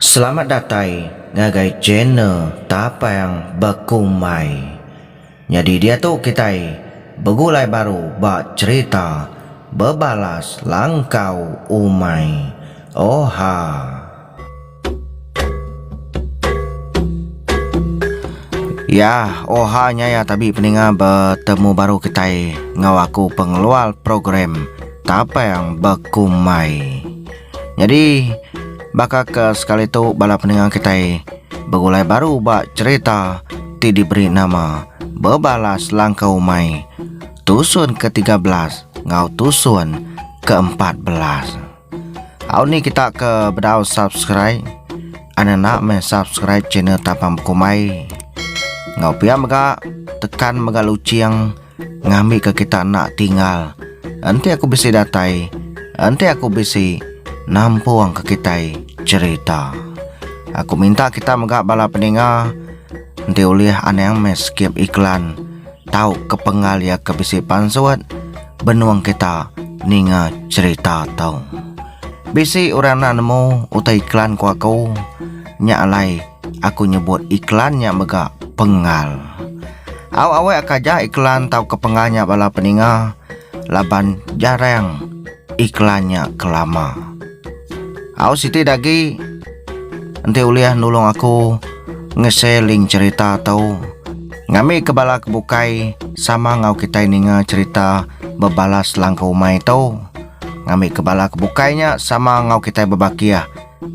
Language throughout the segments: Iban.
Selamat datai ngagai channel Tapang Bekumbai. Nyadi diatu kitai begulai baru ba cherita Bebalas Langkau Umai. Oha. Yah, oha nya ya tabi peninga betemu baru kitai enggau aku pengeluar program Tapang Bekumbai. Nyadi baka ke sekali tu bala pendengar kitai begulai baru ba cherita ti diberi nama Bebalas Langkah Umai tusun ke tiga belas enggau tusun ke empat belas. Au ni kita ke bedau subscribe an enda meh subscribe channel Tapang Bekumbai. Enggau pia mega tekan mega luching Ngambika kita enda tinggal. Enti aku bisi datai. Enti aku bisi nampungka kitai cherita. Aku minta kita mega bala peninga enti ulih anang meh skip iklan tauka pengal iya ke bisi pansut benung kita ninga cherita tu. Bisi orang enda nemu utai iklan ku aku nya alai. Aku nyebut iklan nya mega pengal. Au awek ka ja iklan tauka pengal nya bala peninga laban jarang iklan nya kelama. Au siti dagi enti ulih nulung aku ngese link cerita tu ngambika bala ke bukai sama enggau kitai ninga cerita bebalas langkau umai tu ngambika bala ke bukai nya sama enggau kitai bebakih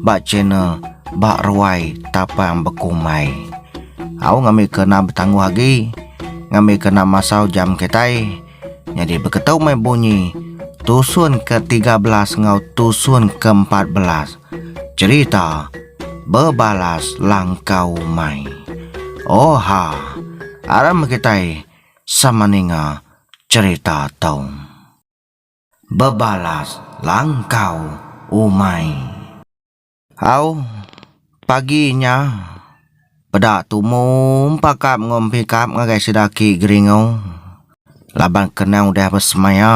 ba channel ba ruai tapang bekumbai. Au ngambi kena betangguh agi ngambi kena masau jam kitai nyadi beketu meh bunyi tusun ke tiga belas enggau tusun ke empat belas cerita bebalas langkau umai. Oha aram kitai sama ninga cerita tu. bebalas langkau umai. Au, pagi nya peda tumu pakap enggau empikap ngagai sida aki Geringu laban kena udah besemaya.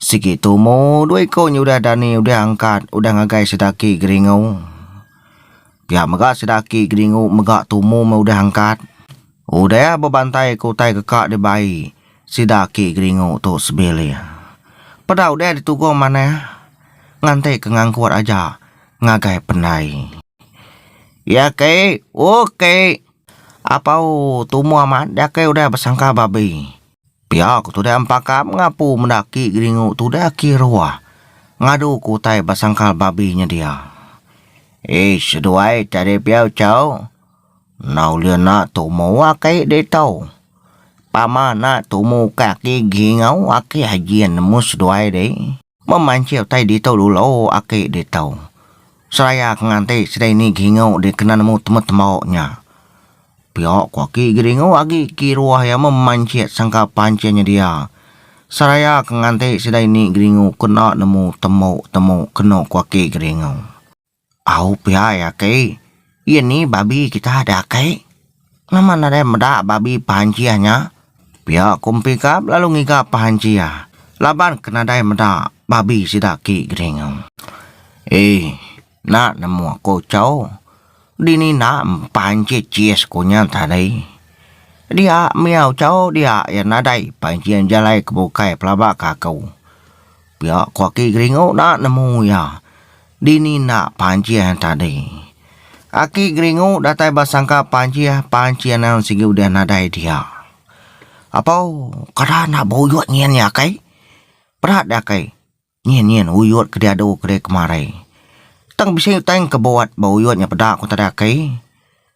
Sigi tumu dua iku nya udah dani udah angkat udah ngagai sida aki Geringu. Pia mega sida aki Geringu mega tumu meh udah angkat. Udah bebantai ke utai keka dibai. Sida aki geringu tu sebilik. Peda udah ditugung manah nganti ke ngangkut aja ngagai pendai. Ya ki, uk ki. Apau tumu amat dia ki udah besangka babi. Pia ku tudah empakam ngapu meda aki geringu tudah aki ruah ngadu ke utai besangka babi nyedia. Ish seduai tadi pia uchu. Enda ulih enda tumu aki deh tau pama enda tumu ukai aki gingau aki aji nemu seduai deh memanseh utai ditu dulu aki deh tau seraya ke nganti sidai ni gingau deh kena nemu temu tembok nya pio ko aki geringu agi kiruh iya memanseh sangka panseh nyedia seraya ke nganti sidai ni geringu kena nemu tembok temu keno ko aki geringu. Au pia iya ke. Iya ni babi kita da ake. Nama nadai meda babi Panjih nya? Pia ku Empi Kap lalu ngiga Panjih laban ke nadai meda babi sida ke geringu. Ee, enda nemu aku chau. Dini enda Panjih chis ku nya tadi. Dia mia chau dia iya nadai Panjih jalai ke bukai pelaba ke aku. Pia ku Aki Geringu enda nemu iya. Dini enda Panjih tadi. Aki Geringu datai ba sangka Panjih, Panjih anang sigi udah nadai dia. Apau, kada enda beuyot nyin iya kai. Peda deh kai, nyin nyin uyot ke diadu ke dikemari. Tang bisi tang kebot ba uyot nya peda ku tadi Aki.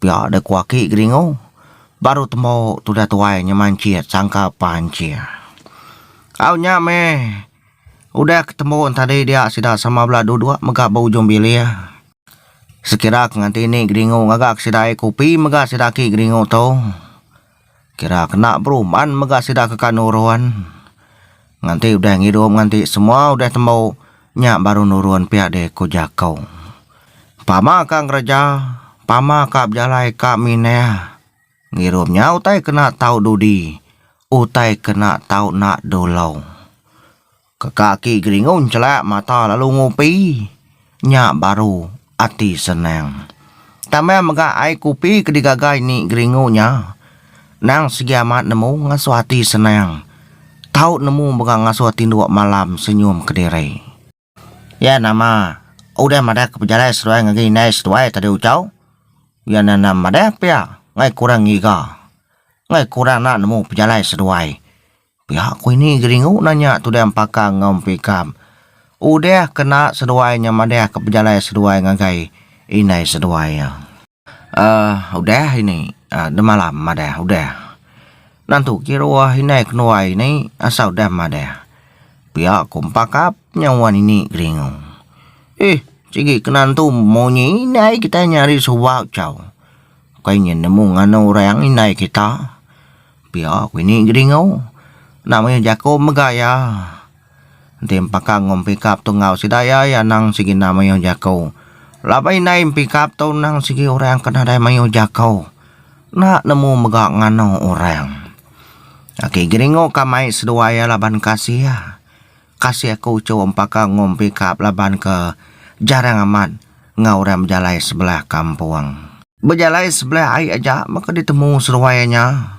Pia deh ku aki Geringu. Baru tembu tudah tuai nya mancit sangka pancit. Au nya meh udah ke tembu tadi dia sida sama bela dua dua mega ba ujung bilik. Sekira ke nganti ni Geringu ngaga ke sida ai kopi mega sida aki Geringu tu. Kira kena beruman mega sida ke kanu Run. Nganti udah ngidup nganti semua udah tembu nya baru nurun pia deh ku Jako. Pama ka ngereja, pama ka bejalai ka minah. Ngirup nya utai kena tau dudi, utai kena tau nak dulo. Ke kaki Geringun celak mata lalu ngupi, nya baru ati senang. Tambah mega ai kupi ke digagai ni Geringu nya nang sigi amat nemu ngasuh ati senang. Tau nemu mega ngasuh tinduk malam senyum kediri. Iya nama udah madah ke pejalai seduai ngagai indai seduai tadi ucau, iya nya nama madah pia ngai kurang ngiga, ngai kurang enda nemu pejalai seduai. Pia ku ini Geringu nanya Tudah Empakang enggau Empu Ikam. Udah kena seduai nya madahka pejalai seduai ngagai indai seduai iya. Aah udah ini aah demalam madah udah. Nantu ke ruah indai kenuai ini asal udah madah. Pia ku Empakap nya wan ini Geringu. Ih sigi kena entu munyi indai kitai nya ari suba chau. Ukai nya nemu nganu orang indai kita. Pia ku ini Gedingau enda mayuh jaku mega iya enti pakang enggau Mempikap tu enggau sida iya iya anang sigi enda mayuh jaku. Laban indai Mempikap tu anang sigi orang ke nadai mayuh jaku enda nemu mega nganu orang. Aki Gedingau ka mai seduai iya laban kasih iya. Kasih aku uchu empaka ngum pikap laban ke jarang amat enggau orang bejalai sebelah kampung. Bejalai sebelah ai aja baka ditemu seduai nya.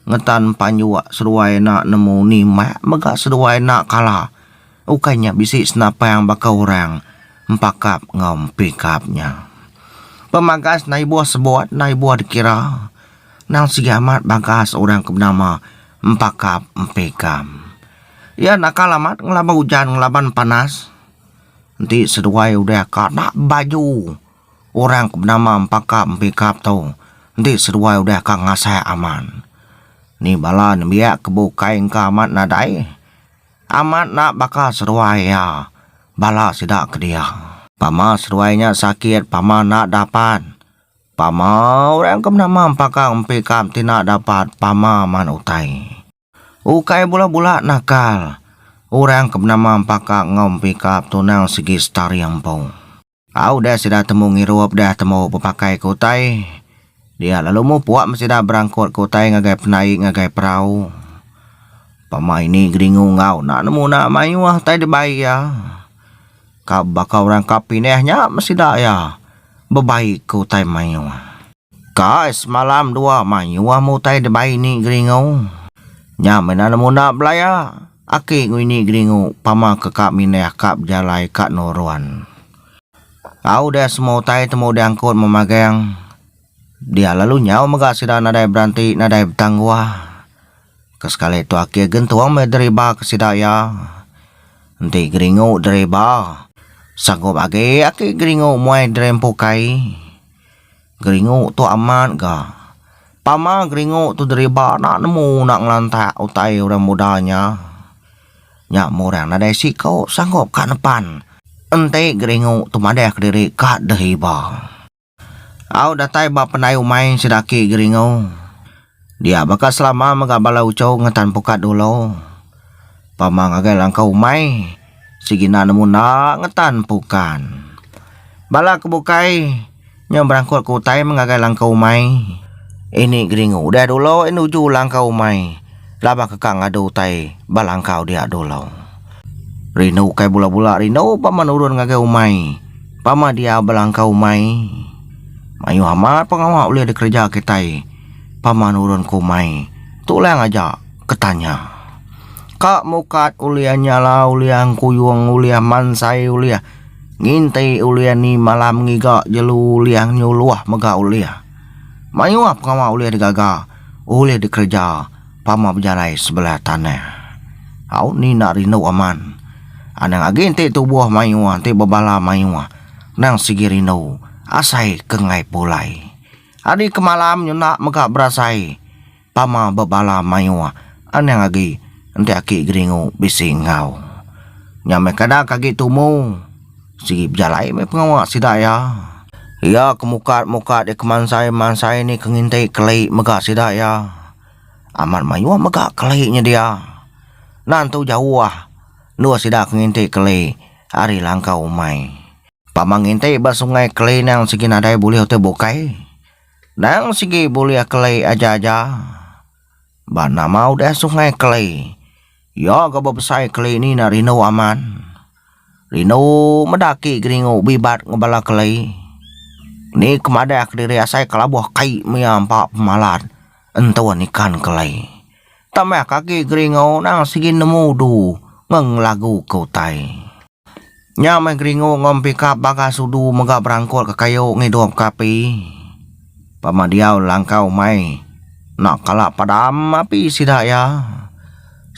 Ngetan panjuk seduai ena nemu nimak mega seduai ena kala ukai nya bisi senapang baka orang empakap enggau pikap nya. Pemagas enda ibuh sebut enda ibuh dikira nang sigi amat bagas orang ke benama empakap empikam. Iya nakal amat ngelaban ujan ngelaban panas. Enti seduai udah ka na baju orang ke benama empakap empikap tu enti seduai udah ka ngasai amat. Ni bala nembiak ke bukai engka amat nadai amat na baka seduai iya bala sida ke dia. Pama seduai nya sakit pama enda dapat pama orang ke benama empakap empikap ti enda dapat pama man utai. Ukai bula-bula nakal orang ke benama Empaka enggau Empikap tunang sigi setari empu. Tau deh sida temu ngirup deh temu bepakaika utai. Dia lalu mupuk meh sida berangkutka utai ngagai penai ngagai perau. Pama ini Geringu enggau enda nemu enda mayuh utai dibai iya. Ka baka orang ka pindah nya meh sida iya bebaika utai mayuh. Kai semalam dua mayuh meh utai dibai ni Geringu. Nya meh enda nemu enda belaya. Aki ku ini Geringu pama ke ka mindah aka bejalai ka Noron. Au udah semua utai temu diangkut meh magang. Dia lalu nyau mega sida nadai beranti nadai betangguh. Ke sekali tu Aki Gentung meh deriba ke sida iya. Enti Geringu deriba, sanggup agi Aki Geringu muai diri empu kai. Geringu tu amat ga. Pama geringu tu deriba enda nemu enda ngelantak utai orang muda nya. Nya meh orang nadai siko sanggup ka nepan enti geringu tu madah kediri ka deh iba. Au datai ba pendai umai sida ake geringu. Dia baka selama mega bala uchu ngetan pukat dulu. Pama ngagai langkau umai, sigi na nemu enda ngetan pukan. Bala ke bukai nyau berangkut ke utai meh ngagai langkau umai. Ini geringu udah dulu eh nuju langkau umai laban ke ka ngadu utai ba langkau dia dulu. Rindu ukai bula-bula rindu pama nurun ngagai umai, pama diau ba langkau umai. Mayuh amat pengawa ulih dikereja kitai. Pama nurun ke umai. Tu lang aja ke tanya. Ka mukat ulih nyala ulih angkuyung ulih mansai ulih nginti ulih ni malam ngiga jelu ulih nyuluh mega ulih. Mayuh pengawa ulih digaga ulih dikereja pama bejalai sebelah tanah. Au ni enda rindu aman. Anang agi ti tubuh mayuh ti bebala mayuh nang sigi rindu asai ke ngai pulai. Ari kemalam nyenda mega berasai tama bebala mayuh anang agi enti aki Geringu bisi enggau. Nya meh kada ke agi tumu sigi bejalai meh pengawa sida iya. Iya ke mukat-mukat iya ke mansai-mansai ni ke nginti keli mega sida iya. Amat mayuh mega keli nya dia. Nan tu jauh endur sida ke nginti keli ari langkau umai. Pama nginti ba sungai keli nang sigi nadai bulih utai bukai. Nang sigi bulih keli aja-aja. Ba nama udah sungai keli. Iya ga bebesai keli ni na rindu amat. Rindu meda aki geringu bibat ngebala keli. Ni ke madah kediri asai kelabuh kai mia empa pemalat entun ikan keli. Tambahka agi geringu nang sigi nemu du ngan ngelagu ke utai. Nya meh geringu enggau pikap bagas udu mega berangkukka kayu ngidup ka api. Pama diau langkau mai enda kala padam api sida iya.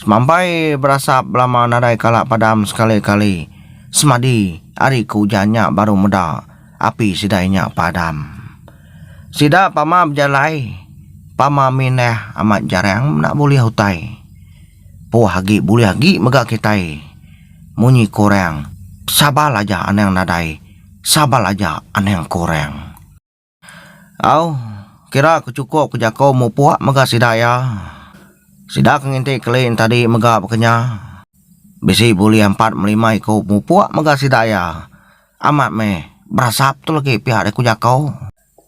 Semampai berasap belama nadai kala padam sekali-kali semadi ari ke ujan nya baru meda api sida iya nya padam. Sida pama bejalai pama mindah amat jarang enda bulih utai. Poh agi bulih agi mega kitai munyi ke orang sabar aja anang nadai sabar aja anang ke orang. Au kira ke chukup ke jaku mupuk mega sida iya. Sida ke nginti kelin tadi mega baka nya. Bisi bulih empat me lima iku mupuk mega sida iya. Amat meh berasap tu lagi pia deh ku jaku.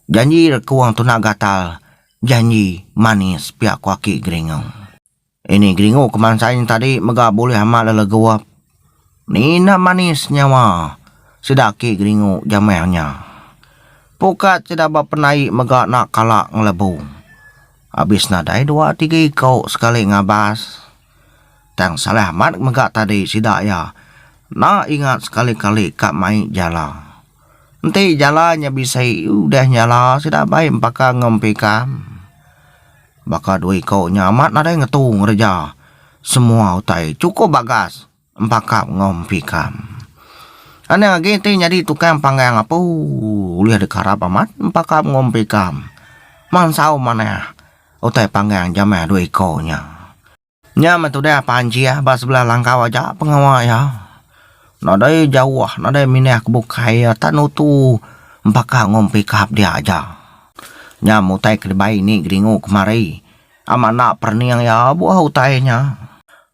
Janji rekuang tunak gatal janji manis pia ku aki Geringau. Ini geringu kemansa nya tadi mega bulih amat le legup. Nina manis nyawa sida aki geringu jamah nya. Pukat sida ba penai mega enda kala ngelebu. Abis nadai dua tiga iko sekali ngabas. Tang salah amat mega tadi sida iya enda ingat sekali-kali ka mai jala. Enti jala nya bisi udah nyala sida baik empaka enggau empikam. Baka dua iku nya amat nadai ngetu ngereja semua utai chukup bagas empakap enggau empikam. Anang agi ti nyadi tukang panggang apu ulih dikarap amat empakap enggau empikam mansau manah utai panggang jamah dua iku nya. Nya meh tudah pan Jiah ba sebelah langkau aja pengawa iya. Nadai jauh, nadai mindah ke bukai iya tan nutu empaka ngum pikap dia aja. Nya meh utai ke dibai ini geringu kemari. Amat enda perening iya buah utai nya.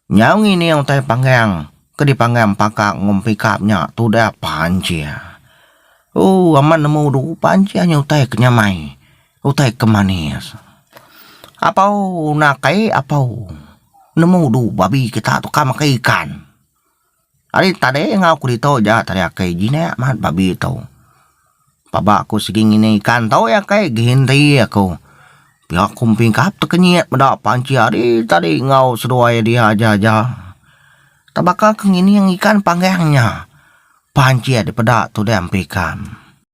Nyau ngining utai panggang ke dipanggang empaka ngum pikap nya tudah pan Jiah. Ooh amat nemu dulu pan Jiah nya utai ke nyamai. Utai ke manis. Apau nak ai apau nemu du babi kita tu ka makai ikan. Ari tadi enggau ku ditu ja tadi akai jinak mat babi tu. Paba ku sigi ngini ikan tau ya kai geinti ya ku pia ku pingkap te kenyit meda panci ari tadi enggau seduai dia aja ja. Ta baka ke ngining ikan panggang nya panci dipeda tudang pekam.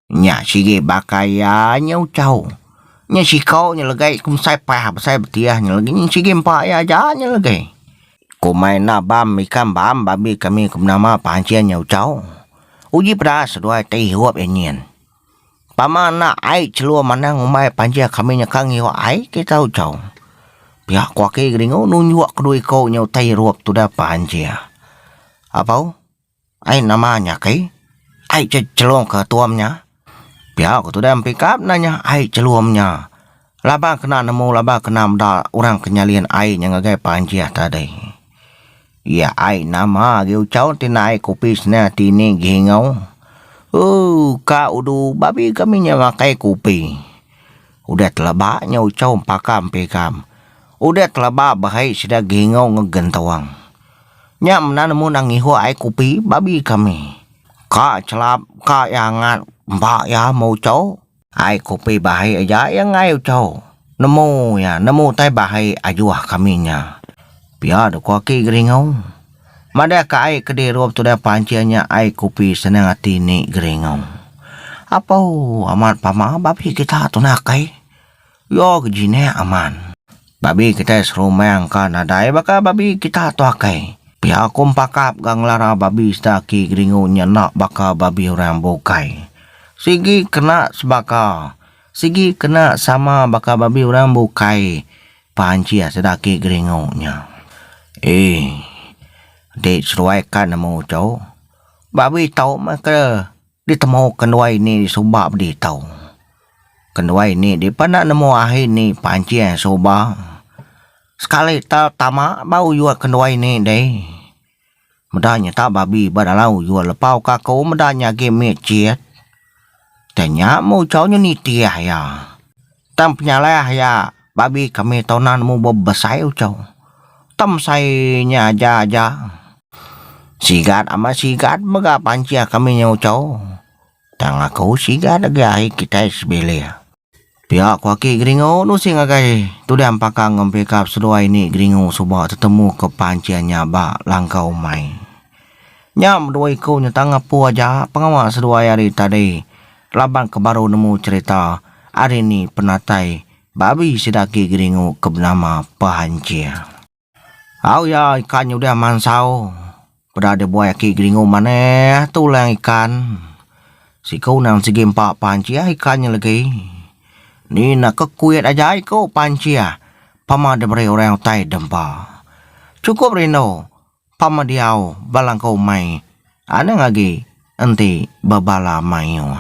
Nya sigi baka iya nyau chau. Nya sikau nya legai ku mesai pah besai betiah nya legi nyin sigi empa iya aja nya legi. Komai enda bam ikan bam babi kami ku menama pancing nyau chau. Uji pedas seduai ti irup iya nyin. Tama enda ai chelum anang umbai pancing kami nyekang iwa ai ti tau chau. Pia ku aki geringu nunjuk kedue iku nyau tai irup tudah pancing. Apau? Ai nama nya kai? Ai ce chelum ke tuom nya? Pia ku tu dai mpi kap nanya ai chelum nya. Laba kena nemu laba kena meda orang ke nyalin ai nya ngagai panjih tadi. Iya ai nama agi uchau ti nae ke opis ne ti ni gi enggau. Ooh ka udu babi kami nya makai kopi. Udah teleba nya uchau empaka mpi kam. Udah teleba bahai sida gi enggau ngegentuang. Nya mena nemu nang ngihuk ai kopi babi kami. Ka chelap ka iya angat empa iya meh ucho. Ai kopi bahi aja iya enggai ucho. Nemu iya nemu utai bahi ajuh kami nya. Pia deh ku aki Geringo. Madah ka ai ke diru betudah pancing nya ai kopi senang ati ni Geringo. Apo amat pama babi kita tunak ai. Yo ke jinik aman. Babi kitai serumang ka nadai baka babi kita tu akai. Pia ku empakap ga ngelara babi sida aki Geringu nya enda baka babi orang bukai. Sigi kena sebaka, sigi kena sama baka babi orang bukai, pancih sida aki Geringu nya. Ee. Enti seduai ka nemu tu, babi tau meh ke Ditemu kenduai ni suba pedi tau. Kenduai ni dipa enda nemu ahi ni panching suba. Sekali ta tama ba ujok kenduai ni deh. Meda nyata babi ba dalam ujok lepau ka aku meda nya agi mit chit. Tanya meuchau nyu nitih iya. Tang penyalah iya babi kami tona nemu bebesai uchou. Tem sai nya aja aja. Sigat amat sigat mega pancih kami nya uchou. Tang aku sigat agei ahi kitai sebilik. Pia ku aki Geringu nusing agai tudah empaka ngempika seduai ni Geringu suba tetemu ke pancih nya ba langkau umai. Nya bedua iku nyentang apu aja pengawa seduai hari tadi laban ke baru nemu cherita hari ni penatai babi sida agi geringu ke benama Pehanjir. Au iya ikan nya udah mansau peda dia buai aki geringu manah tu lang ikan. Siku nang sigi empa Pehanjir ikan nya legi. Ni na ke kuit aja iku Pehanjir pama diberi orang utai dempa. Chukup rindu. Pamadiau balangkau umai anang agi enti bebala mayuh.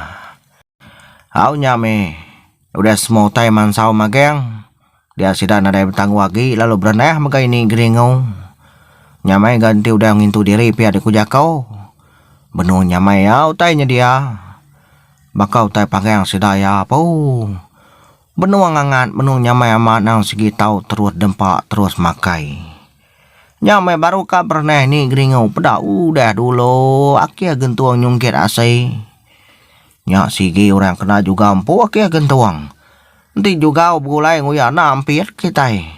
Au nya meh udah semua utai mansau magang dia sida nadai betangguh agi lalu berendah mega ini geringu. Nyamai ga enti udah ngintu diri pia dek ku jako benung nyamai ia utai nyedia baka utai pagang sida ia poo benung angat benung nyamai amat nang segi tau terus dempa terus makai. Nya meh baru ka bereneh ni Geringu peda udah dulu akih gentung nyungkit asi. Nya sigi orang kena juga empu akih gentung. Enti juga begulai nguya enda ampit kitai.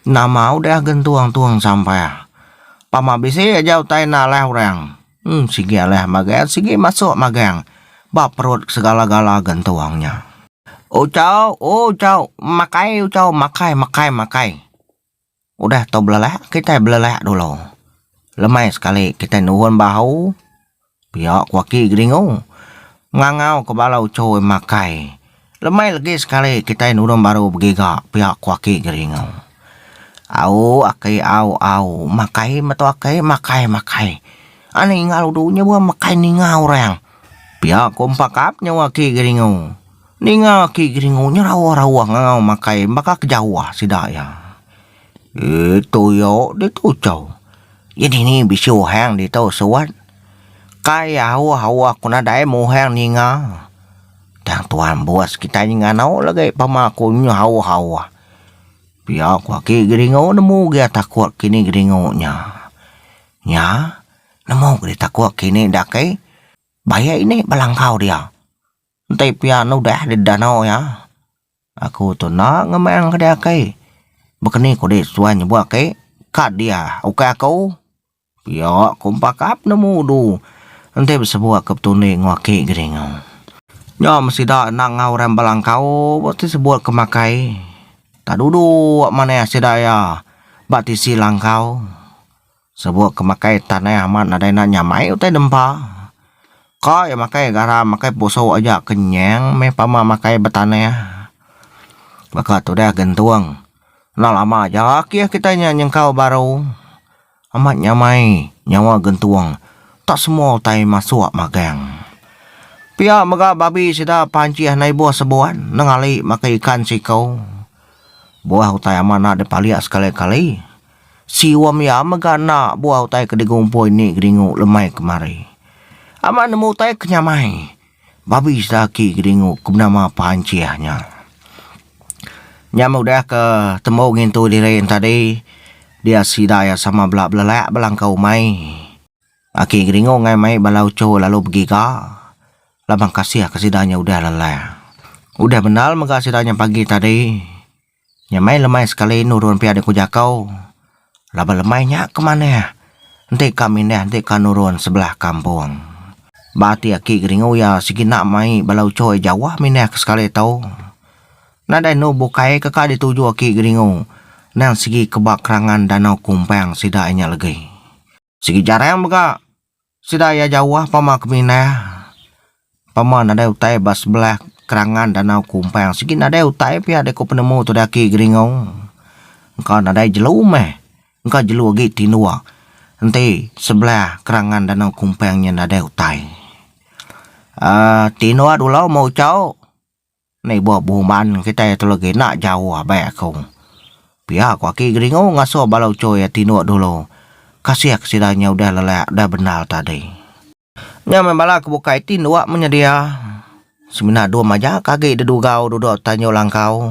Nama udah gentung tu eng sampah. Pama bisi aja utai enda alah orang. Em sigi alah magang sigi masuk magang ba perut segala-gala gentung nya. Ucau, ucau, makai ucau makai makai makai. Udah tau belelak kitai belelak dulu lemai sekali kitai nurun bahu pia ku aki Geringu ngangau ke bala uchu makai lemai legi sekali kitai nurun baru begiga pia ku aki Geringu. Au aki au au makai meto aki makai makai ani ninga udu nyewa makai ninga orang pia ku empa kap nyewa aki Geringu. Ninga aki Geringu nya rawa-rawa ngangau makai baka ke Jawa sida iya. Ee tuyo ditu chau. Iya dini bisi uhang ditu suan. Kai aoh-aoh aku nadai meh uhang ninga. Tang tuan bos kitai nya ngano lagi pama aku nya aoh-aoh. Pia ku aki Geringu nemu gia takuk kini Geringu nya. Nya nemu kini takuk kini da kai baie ini belangkau dia. Enti pia enda udah di danau iya, aku tu enda ngemang ke diakai. Bekeni kudi suai nyebut ake ka dia ukai aku. Pia ku empakap nemu du enti besebut ke betundi enggau ake gedingu. Nya me sida endang enggau orang belangkau ba ti sebut ke makai. Enda duduk manah sida iya ba tisi langkau. Sabuk ke makai tanah amat nadai enda nyamai utai nempa. Ka iya makai garam makai pusok aja kenyang meh pama makai betanah. Baka tu deh gentung. Enda lama aja agi kitai nya nyengkau baru. Amat nyamai nyawa gentung. Ka semua utai masuk magang. Pia mega babi sida panjih andai ibuh sebuan nengah ali makai ikan siko. Buah utai amat enda dipalik sekali kali. Sium iya mega enda bua utai ke digumpoi ni Geringu lemai kemari. Amat nemu utai ke nyamai. Babi sida aki Geringu ke benama Panchih nya. Nya meh udah ke tembu ngintu diri nya tadi dia sida iya sama bela belelak belangkau umai. Aki Geringu ngai mai bala uchu lalu begiga laban kasih ke sida nya udah lelah. Udah bendar mega sida nya pagi tadi. Nya meh lemai sekali nurun pia dek ku jako laban lemai nya ke manah enti ka mindah enti ka nurun sebelah kampung. Ba ati aki geringu ia segina mai bala uchoy jauh mindah ke sekali tau. Nadai enu bukai ke ka dituju aki geringu nang segi ke ba kerangan danau kumpang sida nya legi. Sigi jarang mega sida iya jauh pama ke Minah. Pama nadai utai ba sebelah kerangan Danau Kumpang. Sigi nadai utai pia deka penemu tuda aki Geringo. Engka nadai jelu meh. Engka jelu agi tinduk enti sebelah kerangan Danau Kumpang nya nadai utai. Um tinduk dulu meh Uchao. Meh bua buman kitai tu legi enda jauh abai aku. Pia ku aki Geringu ngasuh bala uchu iya tinduk dulu. Kasih ke sida nya udah lelak udah bendar tadi. Nya meh bala ke bukai tinduk menyedia. Semina dum aja ke agi didugau duduk tanjung langkau.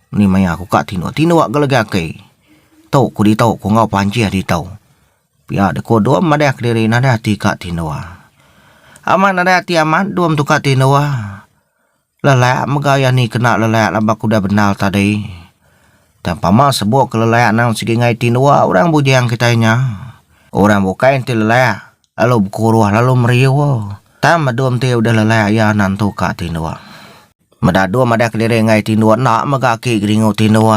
Ni maya ku ka tinduk tinduk ga legi aki. Tu ku ditu ku enggau panjih ditu. Pia de ku dom madah kediri nadai ati ka tinduk. Amat nadai ati amat dom tu ka tinduk. Lelak mega iya ni kena lelak laban ku udah bendar tadi. Tang pama sebok ke lelak nang sigi ngai tinduk orang bujang kitai nya. Orang bukai enti lelak lalu bekuruh lalu meriu. Tang ba dom ti udah lelak iya nan tu ka tinduk. Meda dua madah keliri enggai tindu enda mega aki geringu tindu.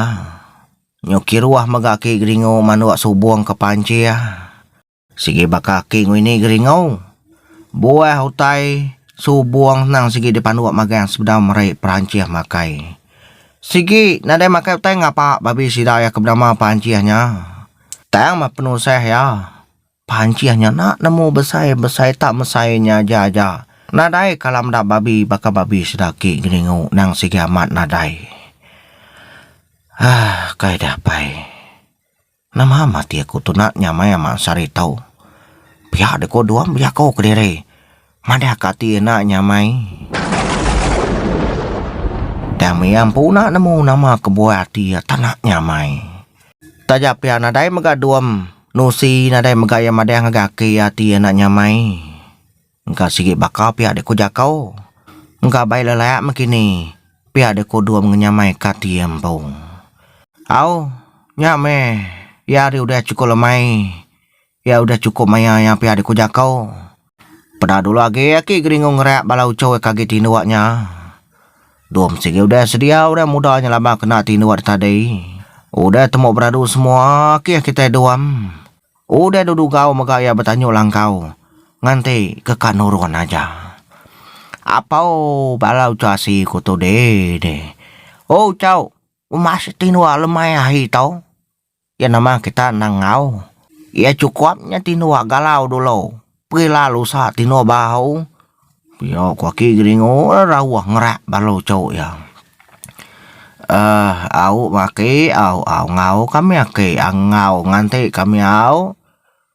Nyuki ruah mega aki geringu manduk subung ke pancing. Sigi baka aki ngini geringu, buah utai subung senang sigi dipanduk magang sebedau meri perancih makai. Sigi nadai makai utai ngapa babi sida iya ke benama perancih nya. Tang meh penusah iya. Pancih nya enda nemu besai besai tak mesai nya aja aja. Nadai kala meda babi baka babi sedaki Geningu nang sigi amat nadai. Aah kai deh pai. Nama am ati aku tu nak nyamai ama sari tau. Pia deh ko duam bejako kediri. Madah ka ati enda nyamai. Tang mia empu enda nemu nama kebuah ati iya tak nak nyamai. Taja pia nadai mega dom nusi nadai mega iya madah ngagai aki iya ati iya enda nyamai. Engka sigi baka pia deh ku jaku. Engka bai lelak meh kini pia deh ku dom ngenyamai ka ati iya empu. Au nya meh iya ari udah chukup lemai Pia udah chukup maya iya pia di ku jaku. Peda dulu agi aki Geringu ngereak bala uchu eka agi tinduk nya. Dua mesti agi udah sedia orang muda nya lama kena tinduk da tadi. Udah temu beradu semua akih kitai Duam. Udah dulu gau mega iya betanyu langkau nganti ke ka nurun aja. Apau bala uchu asi ku tu deh deh. Uchu, uma sik tinduk lemai ahi tau. Iya nama kita endang enggau. Iya chukup nya tinu galau dulu. Peri lalu usa tinu bau. Pio ku aki geringu rauh ngerak balu cu iya. Um au aki au au enggau kami aki enggau nganti kami au.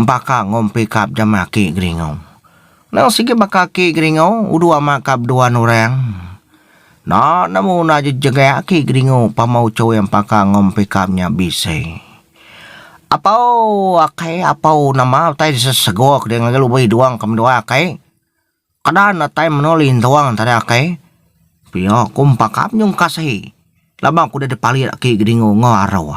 Empaka enggau empi kap jama aki Geringau. Endang sigi baka aki Geringau udu ama kap duan orang. Enda nemu enda jegegak aki Geringau pama ucoi empaka enggau empi kap nya bisei. Apau akai apau nama utai sesegok dei ngagai lubeh idong ke menua akai. Kada ne tai meno lintong tade akai. Pia ku empa kap nyungkas ahi laban ku dei dipalik aki Geringau enggau arau.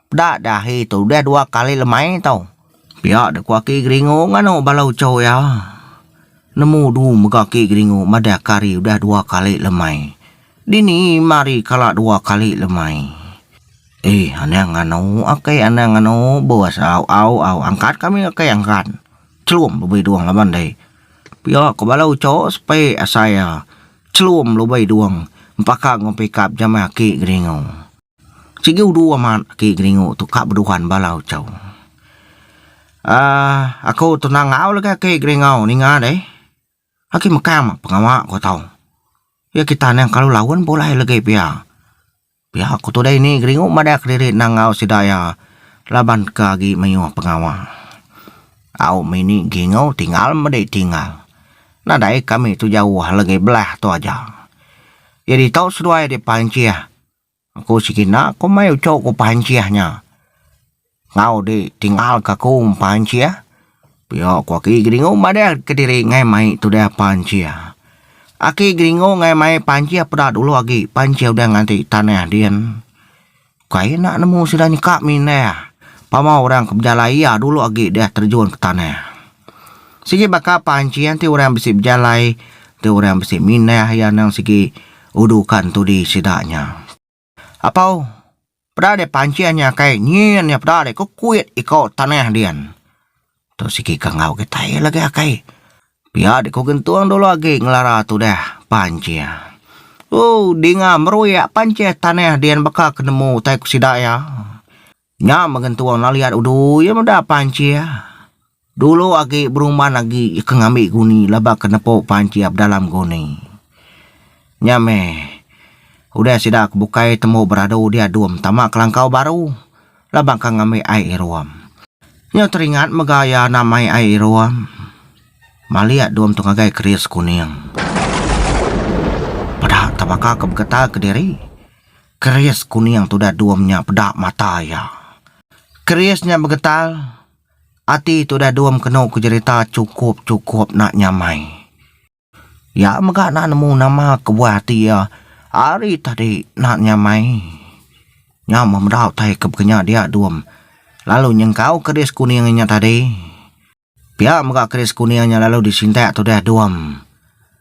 Peda deh ahi tu udah dua kali lemai tu. Pia deh ku aki geringu nganu bala uchu iya. Nemu du mega aki geringu madah ke hari udah dua kali lemai. Dini ima hari kala dua kali lemai. Eh anang nganu aki anang nganu bos au au au angkat kami aki angkat. Chelum be bidung laban dei. Pia ku bala uchu sepe asai iya. Chelum be bidung empaka enggau pickup jama aki geringu. Sigi udu amat aki Geringu tu ka beduhan bala uchu. Um aku tu nangau legi aki Geringau ninga deh. Aki mekang pengawa ku tau. Ya ki tanang kalu laun pun ulai legi pia. Pia ku tu deh ini Geringu madah kediri nangau sida iya laban ke agi mayuh pengawa. Au meh ini Geringu tingal medi tingal. Nadai kami tu jauh legi belah tu aja. Jadi tau seduai deh pancih. Aku sekina komai uchu ku pancih nya enggau di tinggal ka aku pancih pia ku aki geringu madah kediri ngai mai tudah pancih. Aki geringu ngai mai pancih peda dulu agi pancih udah nganti tanah din kai enda nemu sida nyeka mindah pama orang ke bejalai iya dulu agi deh terjun ke tanah. Sigi baka pancing ti orang bisi bejalai tu orang bisi mindah iya nang sigi udukan tudi sida nya. Apau peda deh pancing nya kai nyin iya peda deh kekuit iko tanah dian. Tu sigi ke enggau kitai lagi akai pia deh ku gentung dulu agi ngelara tudah pancing. Ooh dinga meruyak pancing tanah dian baka ke nemu utai ku sida iya. Nya mega entung lalu iya dudui iya meda pancing dulu agi beruman agi iya ke ngambi guni laban ke nepu pancing iya pedalam guni. Nya meh udah sida ke bukai temu beradu dia dum tama kelangkau baru laban ke ngambi ai irum. Nya teringat mega iya enda mai ai irum malik dum tu ngagai keris kuning peda tebaka ke begetah kediri. Keris kuning tu udah dua menya peda mata iya. Keris nya begetal, ati tu udah dua mekenu ke jerita chukup chukup enda nyamai. Iya mega enda nemu nama ke buah ati iya ari tadi enda nyamai. Nya meh meda utai ke pekenya dia dua lalu nyengkau keris kuning nya tadi. Pia mega Chris Kunia nya lalu disintak tudah Duam.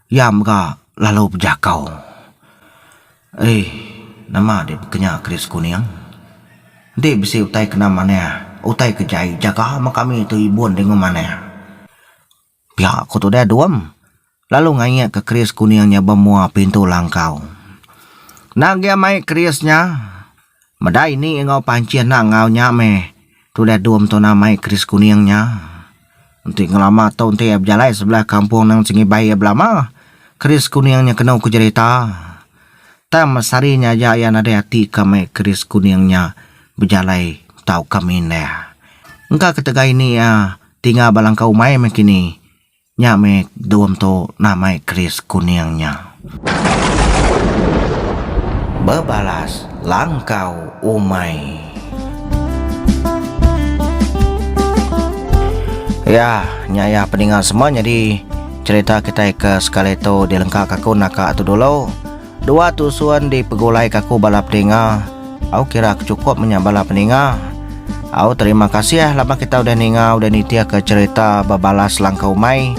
Iya mega lalu bejakau. Eih, nama deh bekenya Chris Kuning? Enti bisi utai kena manah, utai ke jai, jaga meh kami tu ibun deh ngemanah. Pia ku tudah Duam. Lalu ngayakka keris kuning nya ba mua pintu langkau. Enda gia mai keris nya. Meda ini enggau pancih enda enggau nya meh. Tudah Dum tu nah mai keris kuning nya. Enti ngelama tu enti iya bejalai sebelah kampung nang sengibai iya belama, keris kuning nya kenu ke jerita. Tang meh sehari nya aja iya nadai ati ka mai keris kuning nya bejalai tauka mindah. Engka ketegal ini iya tinggal ba langkau umai meh kini. Nya meh dom tu namai keris kuning nya. Bebalas langkau umai. Iya, nya iya peninga semua nyadi cerita kitai ke sekali tu dilengkaka aku naka tu dulu. Dua tu sun di pegulai ka ku bala pedinga. Au kira aku cukup menya bala pedinga. Au terima kasih laban kita udah ninga udah nitik ka cerita bebalas langkau umai.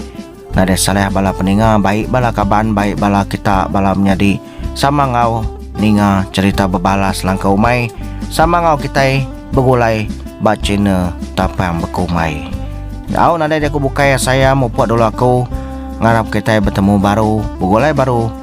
Nadai salah bala pedinga baik bala kaban baik bala kita bala menyadi sama enggau ninga cerita bebalas langkau umai sama enggau kitai begulai ba channel tapang beku umai. Au nadai jaku bukai saya mupuk dulu aku ngarap kitai betemu baru begulai baru.